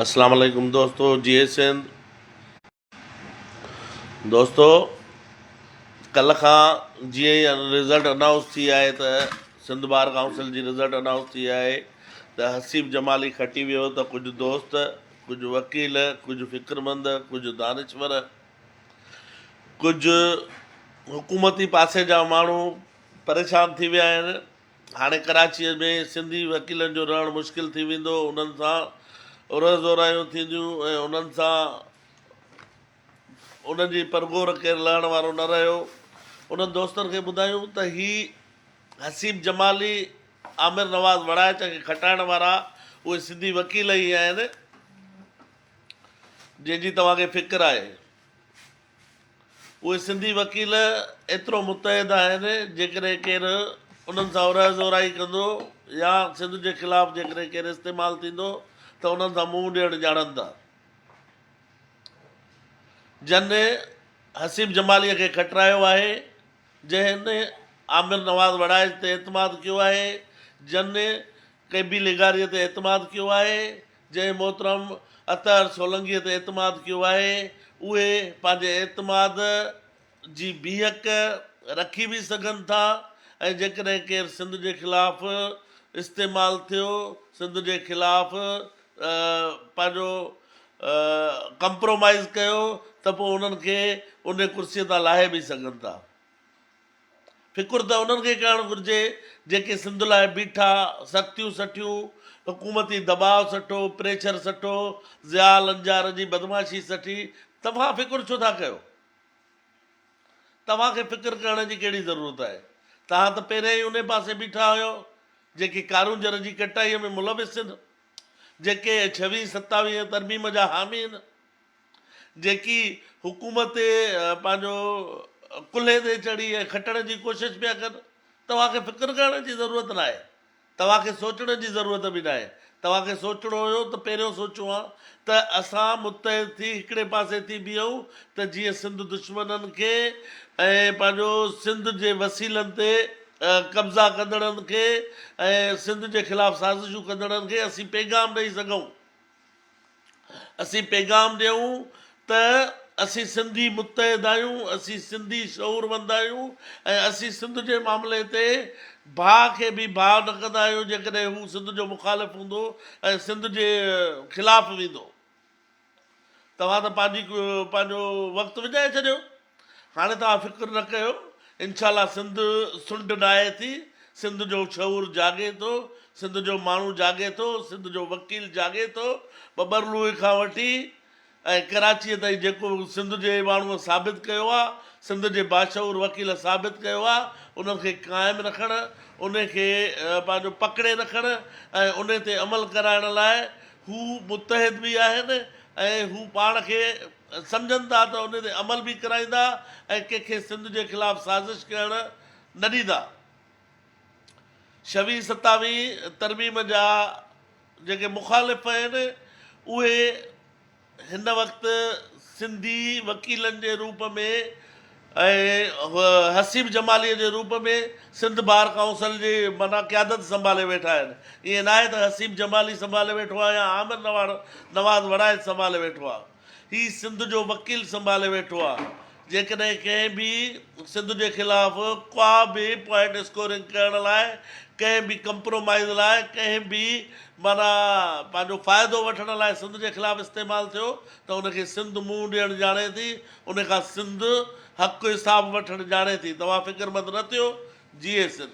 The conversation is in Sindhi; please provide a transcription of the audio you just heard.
اسلام عليڪم دوستو جئي سنڌ دوستو ڪلھ کان جيئن ئي رزلٽ انائونس ٿي آهي ته سنڌ بار ڪائونسل جي رزلٽ انائونس ٿي آهي ته حسيب جمالي کٽي ويو ته ڪجهه دوست ڪجهه وڪيل ڪجهه فڪرمند ڪجهه دانشور ڪجهه حڪومتي پاسي جا ماڻهو پريشان ٿي ويا آهن هاڻي ڪراچيء ۾ سنڌي وڪيلن جو رهڻ مشڪل ٿي ويندو، انهن سان اورهه زورايون ٿينديون ۽ انهن سان انهن جي پرگهور ڪير لهڻ وارو نه رهيو. انهن دوستن کي ٻڌايون ته هي حسيب جمالي، عامر نواز وڙائچ کي کٽائڻ وارا اهي سنڌي وڪيل ئي آهن، جنهن جي توهان کي فڪر آهي. اهي سنڌي وڪيل ايترو متحد آهن جيڪڏهن ڪير انهن سان اورهه زورائي ڪندو يا سنڌ جي خلاف جيڪڏهن ڪير استعمال ٿيندو ته انهن سان منهن ڏيڻ ڄاڻن ٿا. جن حسيب جماليء کي کٽرايو آهي، جنهن عامر نواز وڙائچ تي اعتماد ڪيو آهي، جن قيبي لغاريء تي اعتماد ڪيو آهي، جنهن محترم اطهر سولنگيء تي اعتماد ڪيو آهي، اهي پنهنجي اعتماد جي بيهڪ رکي به سگهن ٿا ۽ جيڪڏهن ڪير سنڌ جي خلاف استعمال ٿيو، سنڌ جي خلاف پنهنجو ڪمپرومائيز ڪيو ته پوء انهن کي انهي ڪرسيء تان لاهي به سگهن ٿا. فڪر ته انهن کي ڪرڻ گهرجي جيڪي سنڌ لاء بيٺا، سختيون سٺيون، حڪومتي دٻاء سٺو، پريشر سٺو، ضياء لنجار جي بدمعاشي سٺي، توهان فڪر ڇو ٿا ڪيو؟ توهان کي فڪر ڪرڻ جي ڪهڙي ضرورت آهي؟ توهان ته پهريان ئي انهي پاسي بيٺا هيو جيڪي ڪارونجهر جي ڪٽائي ۾ ملوث هين، جيڪي ڇويهين ستاويهين ترميم جا حامي هين. جيڪي حڪومت تي پنهنجو ڪلهي تي چڙهي ۽ کٽڻ جي ڪوشش پيا ڪن. توهان کي فڪر ڪرڻ جي ضرورت ناهي. توهان کي سوچڻ جي ضرورت به ناهي. توهان کي سوچڻو هيو ته پهريون سوچيون ها ته اسان متحد ٿي هڪڙي پاسي ٿي بيهون ته جيئن سنڌ دشمنن کي ۽ پنهنجو سنڌ جي وسيلن تي قبضا ڪندڙن کي ۽ سنڌ جي خلاف سازشون ڪندڙن کي اسين پيغام ڏئي سگهون. اسين پيغام ڏيون ته اسين سنڌي متحد آهيون، اسين سنڌي شعوروند آهيون ۽ اسين سنڌ جي معاملي تي ڀاء کي به ڀاء نه ڪندا آهيون جيڪڏهن هو سنڌ جو مخالف هوندو ۽ سنڌ جي خلاف ويندو. توهان ته پنهنجي پنهنجو وقت وڃائي ڇڏيو. هاڻي توهان فڪر نه ڪيو انشاء الله سنڌ سنڊ ڊاهي ٿي سنڌ جو شعور جاڳي ٿو سنڌ جو ماڻهو جاڳي ٿو سنڌ جو وڪيل جاڳي ٿو ٻٻرلوئي کان وٺي ۽ ڪراچيء تائين جيڪو سنڌ جي ماڻهوء ثابت ڪيو آهي سنڌ جي باشعور وڪيل ثابت ڪيو آهي انهن کي قائم رکڻ انهي کي پنهنجو پڪڙي رکڻ ۽ انهي تي عمل ڪرائڻ لاء هو متحد به آهن ۽ هو پاڻ کي سمجهن ٿا ته ان تي عمل به ڪرائيندا ۽ ڪنهن کي سنڌ جي خلاف سازش ڪرڻ نه ڏيندا. شوي ستاوي ترميم جا جيڪي مخالف آهن اهي هن وقت سنڌي وڪيلن جي روپ ۾ ۽ حسيب جماليء جي روپ ۾ سنڌ بار ڪائونسل جي معنيٰ قيادت سنڀالي ويٺا آهن. ائين ناهي ته حسيب جمالي سنڀالي ويٺو آهي يا عامر نواز وڙائچ سنڀالي ويٺو آهي. هي سنڌ جو وڪيل سنڀالي ويٺو آهي. جيڪڏهن ڪنهن به سنڌ جي خلاف ڪا به پوائنٽ اسڪورنگ ڪرڻ لاء، ڪنهن به ڪمپرومائيز لاء، ڪنهن به معنيٰ پنهنجو فائدو وٺڻ لاء سنڌ جي خلاف استعمال ٿيو ته ان کي سنڌ منهن ڏيڻ ڄاڻي ٿي. ان کان سنڌ حق حساب وٺڻ ڄاڻي ٿي توهان فڪر مند نه ٿيو جيئي سنڌ.